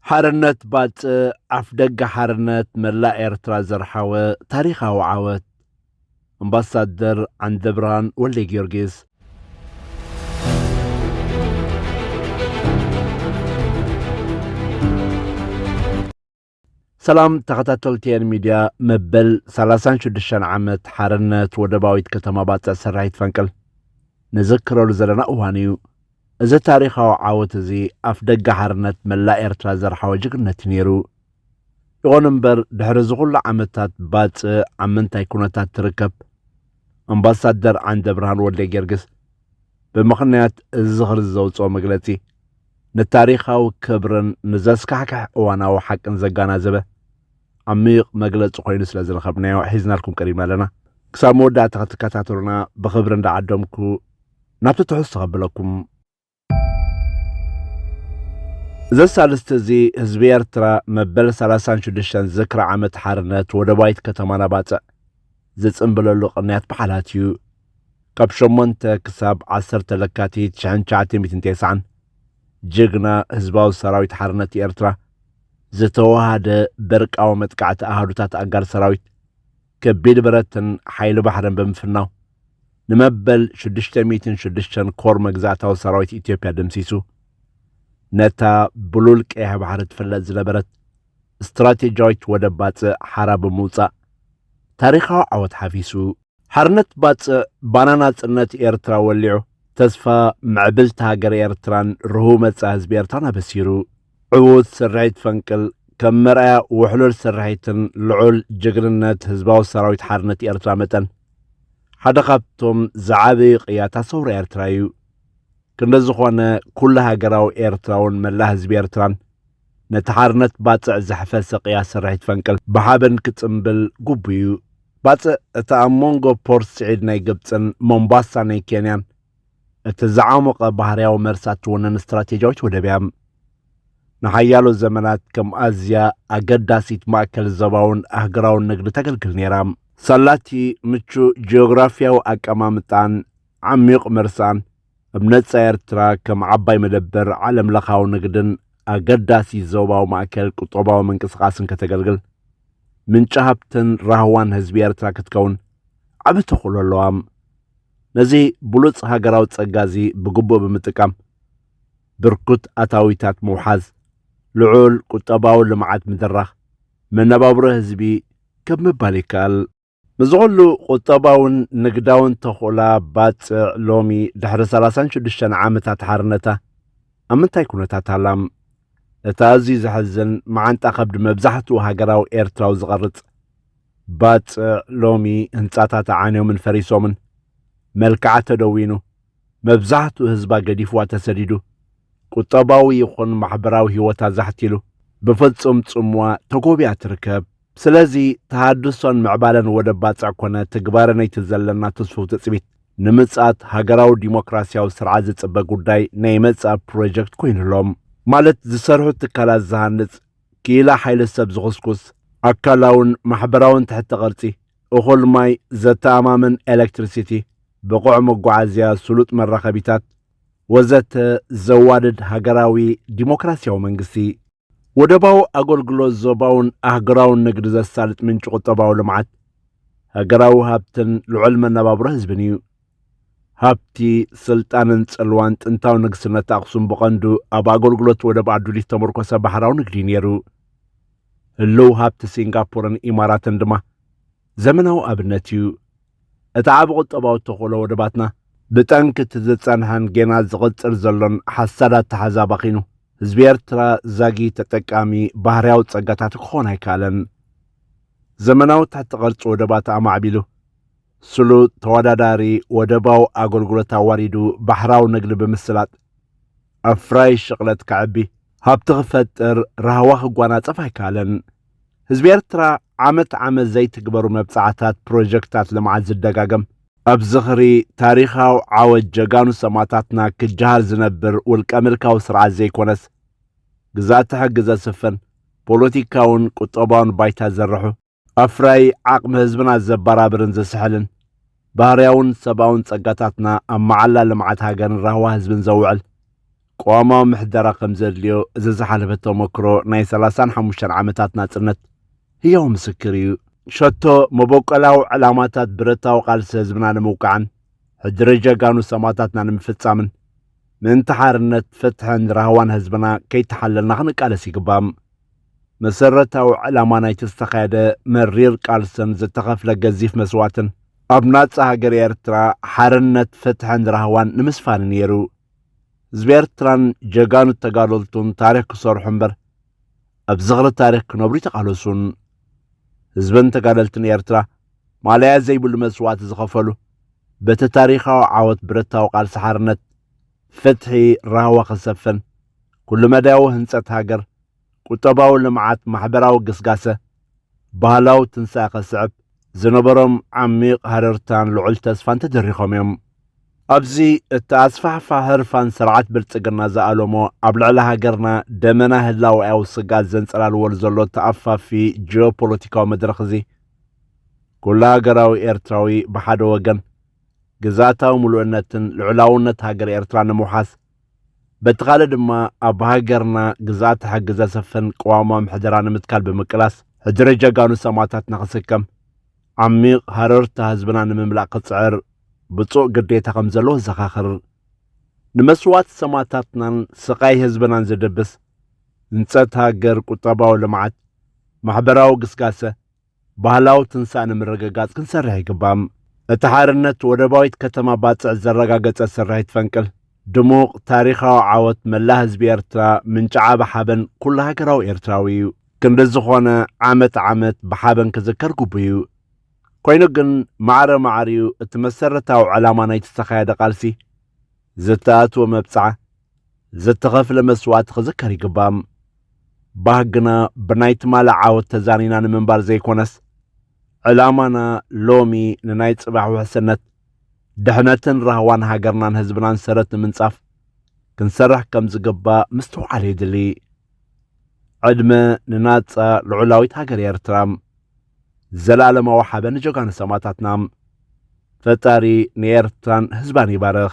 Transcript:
ሓርነት ባጽዕ ኣፍደገ ሓርነት መላእ ኤርትራ ዘርሓወ ታሪኻዊ ዓወት! ኣምባሳደር ዓንደብርሃን ወልደጊዮርጊስ። ሰላም ተኸታተልቲ ኤን ሚድያ መበል 36 ዓመት ሓርነት ወደባዊት ከተማ ባጽዕ ሰራሒት ፈንቅል ንዝክረሉ ዘለና እዋን እዩ። እዚ ታሪኻዊ ዓወት እዚ ኣፍደገ ሓርነት መላእ ኤርትራ ዘርሓወ ጅግነት እዩ ነይሩ። ይኹን እምበር ድሕሪ እዚ ኩሉ ዓመታት ባጽዕ ኣብ ምንታይ ኩነታት ትርከብ? ኣምባሳደር ዓንደብርሃን ወልደጊዮርጊስ ብምኽንያት እዚ ዝኽሪ ዘውጽኦ መግለጺ ንታሪኻዊ ክብርን ንዘስካሕክሕ እዋናዊ ሓቅን ዘጋናዘበ ዓሚቕ መግለጺ ኮይኑ ስለ ዝረኸብናዮ ሒዝናልኩም ቀሪብና ኣለና። ክሳብ መወዳእታ ክትከታተሉና ብኽብሪ እንዳ ዓደምኩ ናብቲ ትሕዝቶ ከብለኩም። እዚ ሳልስቲ እዚ ህዝቢ ኤርትራ መበል ሰላሳን ሽዱሽተን ዝክሪ ዓመት ሓርነት ወደባዊት ከተማና ባጽዕ ዝጽንብለሉ ቅንያት በዓላት እዩ። ካብ ሸሞንተ ክሳብ ዓሰርተ ለካቲት ሽሕን ትሽዓተ ሚእትን ቴስዓን ጅግና ህዝባዊ ሰራዊት ሓርነት ኤርትራ ዝተወሃደ በርቃዊ መጥቃዕቲ ኣሃዱታት ኣጋር ሰራዊት ከቢድ ብረትን ሓይሊ ባሕርን ብምፍናው ንመበል ሽዱሽተ ሚእትን ሽዱሽተን ኮር መግዛእታዊ ሰራዊት ኢትዮጵያ ደምሲሱ ነታ ብሉል ቀይሕ ባሕሪ ትፍለጥ ዝነበረት ስትራቴጂያዊት ወደብ ባጽዕ ሓራ ብምውጻእ ታሪኻዊ ዓወት ሓፊሱ ሓርነት ባጽዕ ባና ናጽነት ኤርትራ ወሊዑ ተስፋ ምዕብልቲ ሃገር ኤርትራን ርህው መጻኢ ህዝቢ ኤርትራን ኣበሲሩ። ዕዉት ሰራሒት ፈንቅል ከም መርኣያ ውሕሉል ሰራሒትን ልዑል ጅግንነት ህዝባዊ ሰራዊት ሓርነት ኤርትራ መጠን ሓደ ካብቶም ዝዓበዩ ቅያታ ሰውራ ኤርትራ እዩ። ክንደ ዝኾነ ኩሉ ሃገራዊ ኤርትራውን መላእ ህዝቢ ኤርትራን ነቲ ሓርነት ባጽዕ ዘሕፈሰ ቅያ ሰራሒት ፈንቅል ብሓበን ክጽምብል ጉቡዩ። ባጽዕ እታ ኣብ መንጎ ፖርት ስዒድ ናይ ግብጽን ሞምባሳ ናይ ኬንያን እቲ ዝዓሞቐ ባህርያዊ መርሳ እትውንን ስትራቴጂያዊት ወደብ እያ። ንሓያሎ ዘመናት ከም ኣዝያ ኣገዳሲት ማእከል ዞባውን ኣህጉራውን ንግዲ ተገልግል ነይራ። ሳላቲ ምቹእ ጂኦግራፍያዊ ኣቀማምጣን ዓሚዩቕ መርሳን፣ ኣብ ነጻ ኤርትራ ከም ዓባይ መደበር ዓለምለኻዊ ንግድን ኣገዳሲ ዞባዊ ማእከል ቁጠባዊ ምንቅስቓስን ከተገልግል፣ ምንጪ ሃብትን ራህዋን ህዝቢ ኤርትራ ክትከውን ዓቢ ተኽእሎ ኣለዋ። ነዚ ብሉጽ ሃገራዊ ጸጋ እዚ ብግቡእ ብምጥቃም ብርኩት ኣታዊታት ምውሓዝ፣ ልዑል ቁጠባዊ ልምዓት ምድራኽ፣ መነባብሮ ህዝቢ ከብ ምባል ይከኣል። ምስዚ ኩሉ ቁጠባውን ንግዳውን ተኽእላ ባጽዕ ሎሚ ድሕሪ ሰላሳን ሽዱሽተን ዓመታት ሓርነታ ኣብ ምንታይ ኩነታት ኣላ? እቲ ኣዝዩ ዘሕዝን መዓንጣ ከብዲ መብዛሕትኡ ሃገራዊ ኤርትራዊ ዝቐርጽ ባጽዕ ሎሚ ህንጻታታ ዓንዮምን ፈሪሶምን፣ መልክዓ ተደዊኑ፣ መብዛሕትኡ ህዝባ ገዲፍዋ ተሰዲዱ፣ ቁጠባዊ ይኹን ማሕበራዊ ህይወታ ዛሕቲሉ፣ ብፍጹም ጽምዋ ተጎብያ ትርከብ። ስለዚ ተሃድሶን ምዕባለን ወደብ ባጽዕ ኮነ ትግባረ ነይቲ ዘለና ትስፉው ትጽቢት፣ ንምጽኣት ሃገራዊ ዲሞክራሲያዊ ስርዓት ዝጽበ ጉዳይ ናይ መጻኢ ፕሮጀክት ኮይኑ'ሎ። ማለት ዝሰርሑ ትካላት ዝሃንጽ፣ ክኢላ ሓይሊ ሰብ ዝኹስኩስ፣ ኣካላውን ማሕበራውን ትሕተ ቅርጺ፣ እኹል ማይ፣ ዘተኣማምን ኤለክትሪሲቲ፣ ብቑዕ መጓዓዝያ፣ ስሉጥ መራኸቢታት፣ ወዘተ ዘዋድድ ሃገራዊ ዲሞክራሲያዊ መንግስቲ። ወደባዊ ኣገልግሎት ዞባውን ኣህጉራውን ንግዲ ዘሳልጥ ምንጪ ቁጠባዊ ልምዓት፣ ሃገራዊ ሃብትን ልዑል መነባብሮ ህዝብን እዩ። ሃብቲ፣ ስልጣንን ጽልዋን ጥንታዊ ንግስነት ኣኽሱም ብቐንዱ ኣብ ኣገልግሎት ወደብ ኣዱሊት ዝተመርኮሰ ባህራዊ ንግዲ ነይሩ። ህልው ሃብቲ ሲንጋፖርን ኢማራትን ድማ ዘመናዊ ኣብነት እዩ። እቲ ዓቢ ቁጠባዊ ተኽእሎ ወደባትና፣ ብጠንኪ እቲ ዝጸንሐን ጌና ዝቕጽል ዘሎን ሓሳድ ኣተሓሕዛ ኣባኺኑ፣ ህዝቢ ኤርትራ ዛጊት ተጠቃሚ ባህርያዊ ጸጋታቱ ክኾን ኣይከኣለን። ዘመናዊ ትሕቲ ቅርጺ ወደባት ኣማዕቢሉ፣ ስሉጥ ተወዳዳሪ ወደባዊ ኣገልግሎት ኣዋዲዱ ባሕራዊ ንግዲ ብምስላጥ ኣፍራዪ ሽቕለት ከዕቢ፣ ሃብቲ ክፈጥር፣ ራህዋ ክጓናጸፍ ኣይከኣለን። ህዝቢ ኤርትራ ዓመት ዓመት ዘይትግበሩ መብጽዓታት ፕሮጀክታት ልምዓት ዝደጋገም፣ ኣብ ዝኽሪ ታሪኻዊ ዓወት ጀጋኑ ሰማእታትና ክጀሃር ዝነብር ውልቀ ምልካዊ ስርዓት ዘይኮነስ፣ ግዝኣተ ሕጊ ዘስፍን፣ ፖለቲካውን ቁጠባውን ባይታ ዘርሑ፣ ኣፍራዪ ዓቕሚ ህዝብና ዘበራብርን ዘስሕልን፣ ባህርያውን ሰብኣውን ጸጋታትና ኣብ መዓላ ልምዓት ሃገርን ራህዋ ህዝብን ዘውዕል ቅዋማዊ ምሕደራ ከም ዘድልዮ እዚ ዝሓለፈ ተሞክሮ ናይ ሰላሳን ሓሙሽተን ዓመታት ናጽነት ህያው ምስክር እዩ። ሸቶ መበቆላዊ ዕላማታት ብረታዊ ቃልሲ ህዝብና ንምውቃዕን ሕድሪ ጀጋኑ ሰማእታትና ንምፍጻምን ምእንቲ ሓርነት፣ ፍትሕን ራህዋን ህዝብና ከይተሓለልና ክንቃለስ ይግባእ። መሰረታዊ ዕላማ ናይቲ ዝተኻየደ መሪር ቃልስን ዝተኸፍለ ገዚፍ መስዋእትን፣ ኣብ ናጻ ሃገር ኤርትራ ሓርነት፣ ፍትሕን ራህዋን ንምስፋን'ዩ ነይሩ። ህዝቢ ኤርትራን ጀጋኑ ተጋደልቱን ታሪኽ ክሰርሑ እምበር፣ ኣብ ዝኽሪ ታሪኽ ክነብሩ ኣይተቓለሱን። ህዝብን ተጋደልትን ኤርትራ ማለያ ዘይብሉ መስዋእቲ ዝኸፈሉ፣ በቲ ታሪኻዊ ዓወት ብረታዊ ቃልሲ ሓርነት፣ ፍትሒ፣ ራህዋ ክሰፍን፣ ኩሉ መዳያዊ ህንጸት ሃገር፣ ቁጠባዊ ልምዓት ማሕበራዊ ግስጋሰ ባህላዊ ትንሳኤ ከስዕብ ዝነበሮም ዓሚቕ ሃረርታን ልዑል ተስፋን ተደሪኾም እዮም። ኣብዚ እቲ ኣስፋሕፋ ህርፋን ስርዓት ብልጽግና ዝኣለሞ ኣብ ልዕሊ ሃገርና ደመና ህላወኣዊ ስግኣት ዘንጸላልወሉ ዘሎ ተኣፋፊ ጂኦፖለቲካዊ መድረኽ እዚ ኩሉ ሃገራዊ ኤርትራዊ ብሓደ ወገን ግዝኣታዊ ምሉእነትን ልዑላውነት ሃገረ ኤርትራ ንምውሓስ በቲ ካልእ ድማ ኣብ ሃገርና ግዝኣተ ሕጊ ዘሰፍን ቅዋማዊ ምሕደራ ንምትካል ብምቅላስ ሕድሪ ጀጋኑ ሰማእታትና ክስከም ዓሚቕ ሃረርታ ህዝብና ንምምላእ ክጽዕር ብፁዕ ግዴታ ከም ዘለዎ ዘኻኽር ንመስዋእቲ ሰማእታትናን ስቓይ ህዝብናን ዝድብስ ህንጸት ሃገር፣ ቁጠባዊ ልምዓት፣ ማሕበራዊ ግስጋሰ፣ ባህላዊ ትንሳእ ንምርግጋጽ ክንሰርሕ ይግባእ። እቲ ሓርነት ወደባዊት ከተማ ባጽዕ ዘረጋገጸ ስርሒት ፈንቅል ድሙቕ ታሪኻዊ ዓወት መላእ ህዝቢ ኤርትራ ምንጪ ዓቢ ሓበን ኩሉ ሃገራዊ ኤርትራዊ እዩ። ክንዲ ዝኾነ ዓመት ዓመት ብሓበን ክዝከር ግቡእ እዩ። ኮይኑ ግን ማዕረ ማዕሪኡ እቲ መሰረታዊ ዕላማ ናይቲ ዝተኻየደ ቃልሲ፣ ዝተኣትወ መብጽዓ፣ ዝተኸፍለ መስዋእቲ ክዝከር ይግባእ። ባህግና ብናይ ትማሊ ዓወት ተዛኒና ንምንባር ዘይኮነስ ዕላማና ሎሚ ንናይ ጽባሕ ውሕስነት ድሕነትን ራህዋን ሃገርናን ህዝብናን ሰረት ንምንጻፍ ክንሰርሕ ከም ዝግባእ ምስትውዓል የድሊ። ዕድመ ንናጻ ልዑላዊት ሃገር ኤርትራ። ዘላለማዊ ሓበ ንጀጋኑ ሰማእታትና። ፈጣሪ ንኤርትራን ህዝባን ይባርኽ።